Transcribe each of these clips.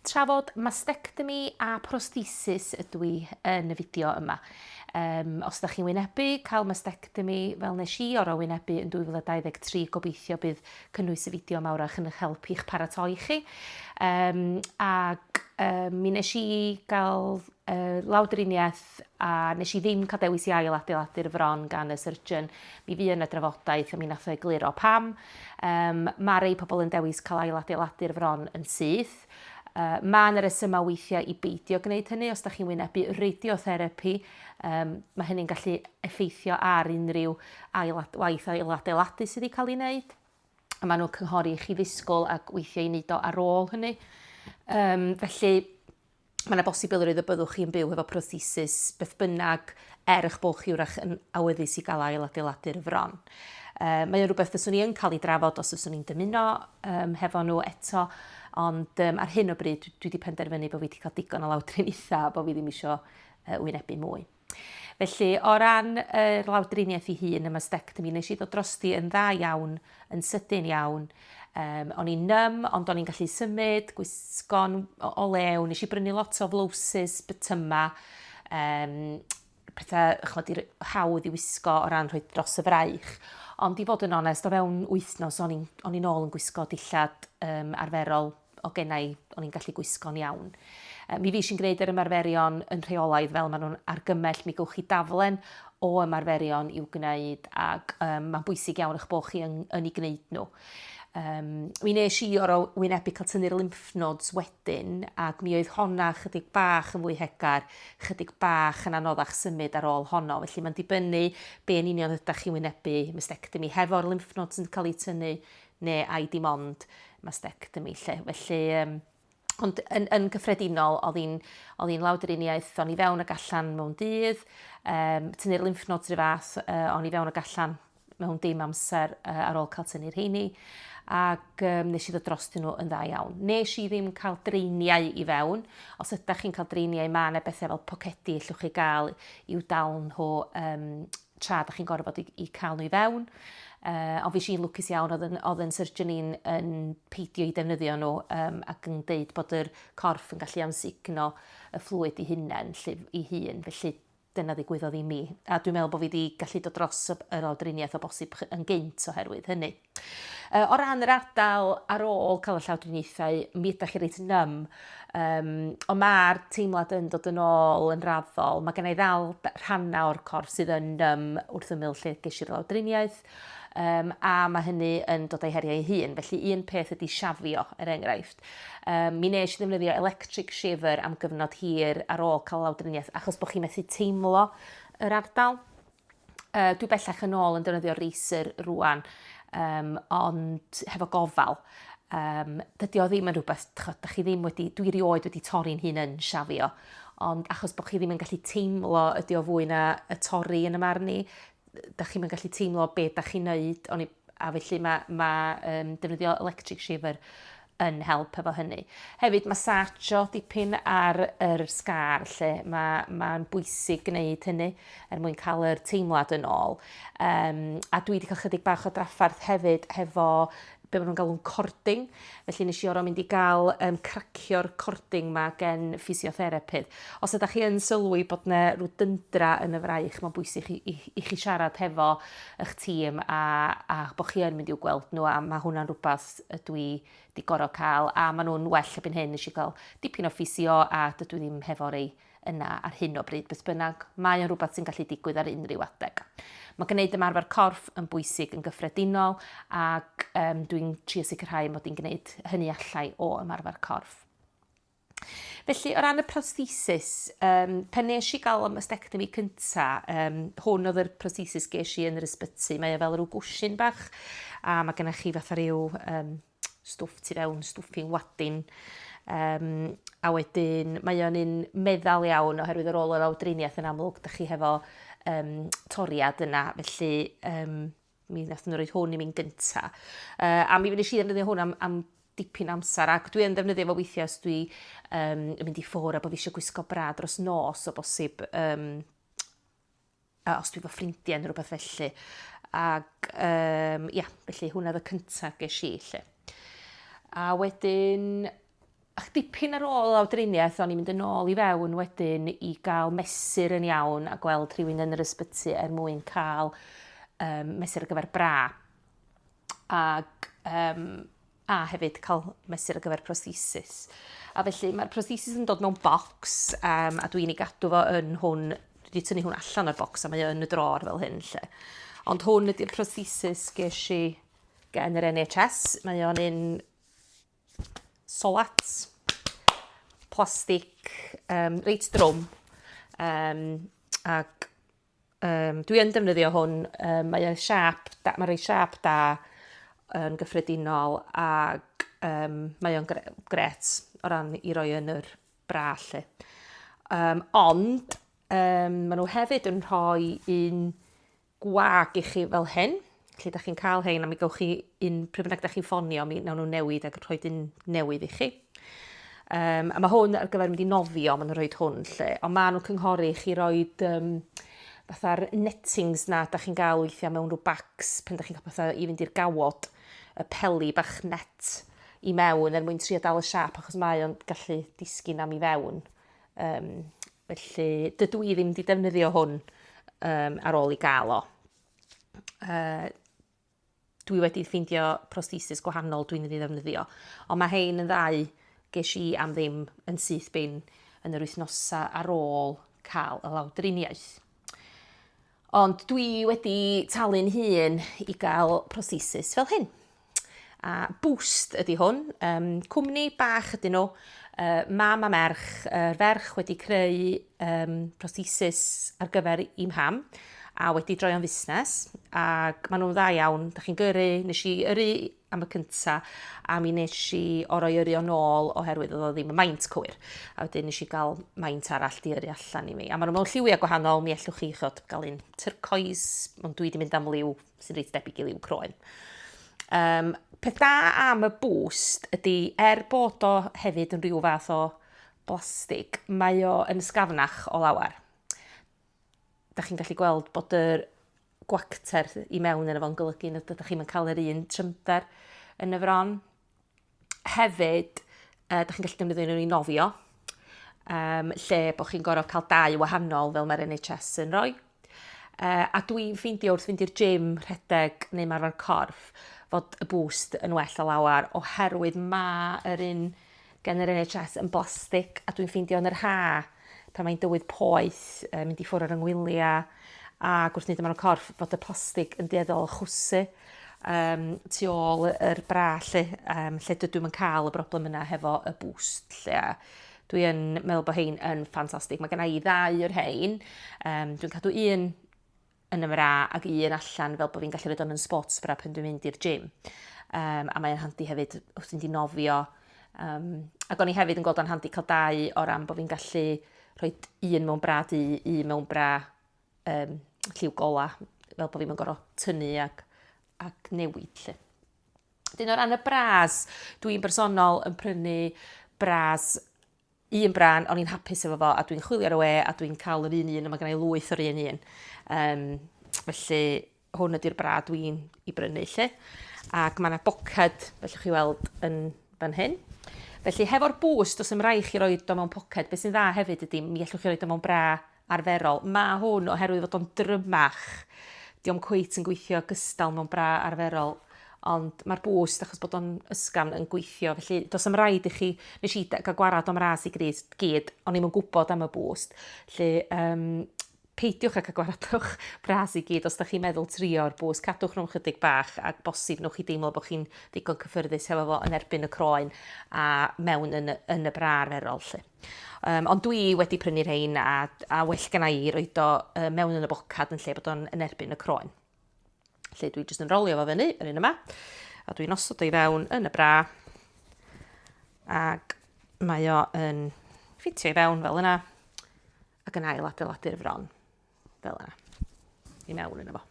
Trafod mastectomy a prosthesis ydw i yn y fideo yma. Um, os ydych chi'n wynebu cael mastectomy fel nes i oro wynebu yn 2023, gobeithio bydd cynnwys y fideo mawr a'ch yn eich help i'ch paratoi chi. Um, ac um, mi nes i gael uh, lawdriniaeth a nes i ddim cael dewis i ail adeiladu'r fron gan y surgeon. Mi fu yna drafodaeth a mi nath o egluro pam. Yym, ma' rei pobl yn dewis cael ail-adeiladu'r fron yn syth. Yy, ma' 'na resymau weithiau i beidio gwneud hynny os da chi'n wynebu radiotherapi. Yym, ma' hynny'n gallu effeithio ar unrhyw ail waith ail-adeiladu sydd wedi cael ei wneud. A ma' nhw'n cynghori i chi ddisgwyl ac weithiau i wneud o ar ôl hynny. Yym, felly, mae yna bosibilrwydd y byddwch chi'n byw hefo prothesis beth bynnag er eich bod chi wrach yn awyddus i gael ail adeiladu'r fron. Uh, mae o'n rhywbeth fyswn i yn cael ei drafod os fyswn i'n dymuno um, hefo nhw eto, ond um, ar hyn o bryd dwi wedi penderfynu bod fi wedi cael digon o lawdriniaethau a bod fi ddim eisiau uh, wynebu mwy. Felly, o ran yr lawdriniaeth ei hun, y mastectomy, nes i ddod drosti yn dda iawn, yn sydyn iawn. Um, o'n i'n num, ond o'n i'n gallu symud, gwisgo'n o lew, nes i brynu lot o flowsus, bytyma, um, pethau chod i'r hawdd i wisgo o ran rhoi dros y fraich. Ond i fod yn onest, o fewn wythnos o'n i'n ôl yn gwisgo dillad um, arferol o gennau i, o'n i'n gallu gwisgo'n iawn. Mi fish i'n gwneud yr ymarferion yn rheolaidd fel maen nhw'n argymell, mi gywch chi daflen o ymarferion i'w gwneud ac um, mae'n bwysig iawn eich bod chi yn, yn ei gwneud nhw. Um, mi nes i o'r wynebu cael tynnu'r lymph nodes wedyn ac mi oedd honna chydig bach yn fwy hegar, chydig bach yn anoddach symud ar ôl honno. Felly mae'n dibynnu be yn union ydych chi'n wynebu mastectomy. Hefo'r lymph nodes yn cael eu tynnu, neu ai dim ond mastectomy 'lly. Felly yym ond yn yn gyffredinol o'dd hi'n o'dd hi'n lawdriniaeth o'n i fewn ag allan mewn dydd, yym tynnu'r lymph nodes 'ru' fath yy o'n i fewn ag allan mewn dim amser yy ar ôl cael tynnu'r rheini ac um, nes i ddod drostyn nhw yn dda iawn. Nes i ddim cael dreiniau i fewn. Os ydych chi'n cael dreiniau, mae yna bethau fel pocedi allwch chi gael i'w dal nhw um, tra dach chi'n gorfod i, i cael nhw i fewn. Uh, ond fi si'n lwcus iawn, oedd yn, oedd yn surgeon i'n yn peidio i defnyddio nhw um, ac yn dweud bod yr corff yn gallu amsugno y fflwyd i hunain, lle, i hun. Felly dyna ddigwyddodd i mi. A dwi'n meddwl bod fi wedi gallu dod dros yr awdriniaeth o bosib yn gynt oherwydd hynny. Yy o ran yr ardal ar ôl ca'l y llawdriniaethau mi ydach chi reit num yym on' ma'r teimlad yn dod yn ôl yn raddol ma' gennai ddal d- rhanna o'r corff sydd yn num wrth ymyl lle gesh i'r lawdriniaeth yym a ma' hynny yn dod a'i heriau ei hun felly un peth ydi shafio er enghraifft yym mi nesh i ddefnyddio electric shaver am gyfnod hir ar ôl ca'l lawdriniaeth achos bo' chi methu teimlo yr ardal. uh, dwi bellach yn ôl yn defnyddio Racer rwan, um, ond hefo gofal. Um, dydy o ddim yn rhywbeth, da chi ddim wedi, dwi rioed wedi torri'n hun yn siafio, ond achos bod chi ddim yn gallu teimlo ydy o fwy na y torri yn y marn i, da chi'n gallu teimlo beth da chi'n neud, ond a felly mae, mae um, defnyddio electric shaver yn help efo hynny. Hefyd, mae sacho dipyn ar yr sgar lle, mae'n ma bwysig gwneud hynny er mwyn cael yr teimlad yn ôl. Um, a dwi wedi cael chydig bach o draffarth hefyd hefo be maen nhw'n galw'n cording, Felly nes i oro mynd i ga'l yym cracio'r cording 'ma gen ffisiotherapydd. Os ydach chi yn sylwi bod 'na rw dyndra yn y fraich ma'n bwysig i i i chi siarad hefo 'ych tîm a a bo' chi yn mynd i'w gweld nhw a ma' hwnna'n rwbath y dwi 'di goro ca'l a ma' nhw'n well erbyn hyn, nes i ga'l dipyn o ffisio a dydw i ddim hefo rei yna ar hyn o bryd, beth bynnag, mae o'n rhywbeth sy'n gallu digwydd ar unrhyw adeg. Mae gwneud ymarfer corff yn bwysig yn gyffredinol ac um, dwi'n trio sicrhau mod i'n gwneud hynny allai o ymarfer corff. Felly, o ran y prosthesis, um, pan nes i gael am ystectomy cynta, um, hwn oedd yr prosthesis ges i yn yr ysbyty. Mae o e fel rhyw gwsyn bach, a mae gennych chi fatha rhyw um, stwff tu fewn, stwffing wadin. Um, a wedyn mae o'n un meddal iawn oherwydd yr ôl yr awdriniaeth yn amlwg, da chi hefo um, toriad yna, felly um, mi wnaethon nhw roed hwn i mi'n gynta. Uh, a mi fynd i si ddefnyddio hwn am, am dipyn amser ac dwi yn ddefnyddio fo weithiau os dwi um, yn mynd i ffwr a bod fi eisiau gwisgo bra dros nos o bosib um, a os dwi efo ffrindiau neu rhywbeth felly. Ac um, ia, felly hwnna oedd y cyntaf ges i. Lle. A wedyn, ach dipyn ar ôl awdriniaeth, o'n i'n mynd yn ôl i fewn wedyn i gael mesur yn iawn a gweld rhywun yn yr ysbyty er mwyn cael um, mesur ar gyfer bra. Ac um, a hefyd cael mesur ar gyfer prosthesis. A felly mae'r prosthesis yn dod mewn bocs um, a dwi'n ei gadw fo yn hwn, dwi wedi tynnu hwn allan o'r bocs a mae yn y dror fel hyn lle. Ond hwn ydy'r prosthesis ges i gen yr NHS, mae o'n un solat, plastig, um, reit drwm, um, ac Um, dwi yn defnyddio hwn, um, mae e'n siap, da, mae'n rhoi siap da yn gyffredinol ac um, mae o'n gre gret o ran i roi yn yr bra lle. Um, ond um, maen nhw hefyd yn rhoi un gwag i chi fel hyn, Lle da chi'n cael hein a mi gawch chi un, pryd bynnag da chi'n ffonio, mi nawn nhw newid ac rhoi un newydd i chi. Um, a mae hwn ar gyfer mynd i nofio, maen nhw'n rhoi hwn lle, ond maen nhw'n cynghori chi roi um, fatha'r nettings na da chi'n gael weithiau mewn rhyw bags pen da chi'n cael pethau i fynd i'r gawod, y peli bach net i mewn er mwyn trio dal y siap achos mae o'n gallu disgyn am i fewn. Um, felly dydw i ddim wedi defnyddio hwn um, ar ôl i gael o. uh, dwi wedi ffeindio prosthesis gwahanol dwi'n mynd i ddefnyddio. Ond mae hein yn ddau ges i am ddim yn syth bin yn yr wythnosau ar ôl cael y lawdriniaeth. Ond dwi wedi talu'n hun i gael prosthesis fel hyn. A Boost ydy hwn, um, cwmni bach ydyn nhw, uh, mam a merch, uh, ferch wedi creu um, prosthesis ar gyfer i mham, a wedi droi o'n fusnes, ac maen nhw'n dda iawn, da chi'n gyrru, nes i yrru am y cynta, a mi nes i orau yrru o'n ôl oherwydd oedd o ddim y maint cywir, a wedyn nes i gael maint arall di yrru allan i mi. A maen nhw mewn lliwiau gwahanol, mi ellwch chi chod, gael un turcoes, ond dwi wedi mynd am liw sy'n reit debyg i liw croen. Um, peth da am y boost ydy, er bod o hefyd yn rhyw fath o blastig, mae o yn ysgafnach o lawer. Da chi'n gallu gweld bod yr gwacter i mewn yn efo'n golygu nad ydych chi'n cael yr un trymder yn y fron. Hefyd, uh, da chi'n gallu defnyddio nhw i nofio, um, lle bod chi'n gorfod cael dau wahanol fel mae'r NHS yn rhoi. Uh, a dwi'n ffeindio wrth fynd i'r gym rhedeg neu marfer corff fod y boost yn well o lawer oherwydd mae yr un gen yr NHS yn blastig a dwi'n ffeindio yn yr ha pan mae'n dywydd poeth, mynd i ffwrdd ar 'y ngwylia a wrth neud o mewn y corff fod y plastig yn dueddol chwysu um, tu ôl yr bra lle, um, lle dydw i'n cael y broblem yna hefo y boost lle. Dwi yn meddwl bod hein yn ffantastig. Mae gennau i ddau o'r hein. Um, dwi'n cadw un yn y mra ag un allan fel bod fi'n gallu rhoi o'n yn sports bra pan dwi'n mynd i'r gym. Um, a mae'n handi hefyd wrth ti'n di nofio. Um, ac o'n i hefyd yn gweld o'n handi cael dau o ran bod fi'n gallu rhoi un mewn bra di, un mewn bra um, lliw gola, fel bod fi'n mynd gorau tynnu ac, ac newid lle. Dyn o ran y bras, dwi'n bersonol yn prynu bras un brân, o'n i'n hapus efo fo a dwi'n chwilio ar y we a dwi'n cael yr un un a mae gen i lwyth o'r un un. Um, felly hwn ydy'r bra dwi'n i brynu lle. Ac mae yna boced, felly chi weld yn fan hyn. Felly hefo'r bws, dos ymrae chi roi do mewn poced. Beth sy'n dda hefyd ydy, mi allwch chi roi do mewn bra arferol. Mae hwn oherwydd fod o'n drymach. Di o'm cweit yn gweithio gystal mewn bra arferol. Ond mae'r boost, achos bod o'n ysgafn, yn gweithio. Felly, dos am rhaid i chi... Nes i gael gwarad o'm ras i gris gyd, o'n i'm yn gwybod am y boost. Felly, um, peidiwch ag agwaradwch bras i gyd os da chi'n meddwl trio'r bws, cadwch nhw'n chydig bach a bosib nhw'n chi deimlo bod chi'n ddigon cyffyrddus hefo fo yn erbyn y croen a mewn yn, yn y bra arferol. Lle. Yym ond dwi wedi prynu rhein a a well gennai i roid o yy mewn yn y bocad yn lle bod o'n yn erbyn y croen. Felly dwi jyst yn rolio fo fyny, yr un yma, a dwi'n osod o i fewn yn y bra, ac mae o yn ffitio i fewn fel yna, ac yn ail adeiladu'r fron. Fel yna. I mewn yna fo.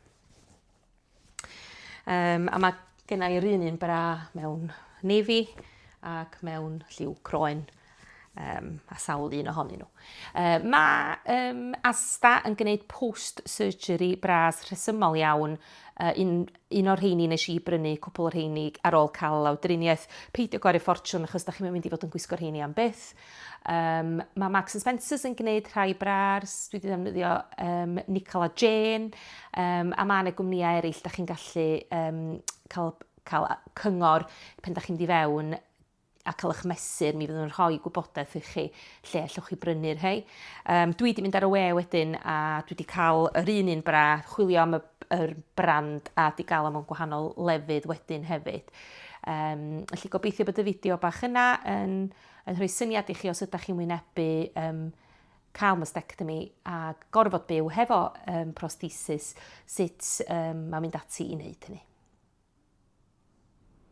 Um, a mae gennau yr un un bra mewn navy ac mewn lliw croen um, a sawl un ohonyn nhw. Uh, mae um, Asta yn gwneud post-surgery bras rhesymol iawn uh, un, Un o'r rheini nes i brynu cwpwl o'r rheini ar ôl cael lawdriniaeth. Peidio gwario ffortiwn achos dach chi'm yn mynd i fod yn gwisgo'r rheini am byth. Um, mae Marks and Spencers yn gwneud rhai brars, dwi wedi ddefnyddio um, Nicol a Jane, um, a mae yna gwmnïau eraill da chi'n gallu um, cael, cael cyngor pen da chi'n mynd i fewn a cael eich mesur, mi fyddwn yn rhoi gwybodaeth i chi lle allwch chi brynu'r rhai. Um, dwi wedi mynd ar y we wedyn a dwi wedi cael yr un un bra, chwilio am y, yr brand a di gael am o'n gwahanol lefydd wedyn hefyd. Um, felly gobeithio bod y fideo bach yna yn, yn rhoi syniad i chi os ydych chi'n wynebu um, cael mastectomy a gorfod byw hefo um, prosthesis, sut um, mae'n mynd ati i wneud hynny.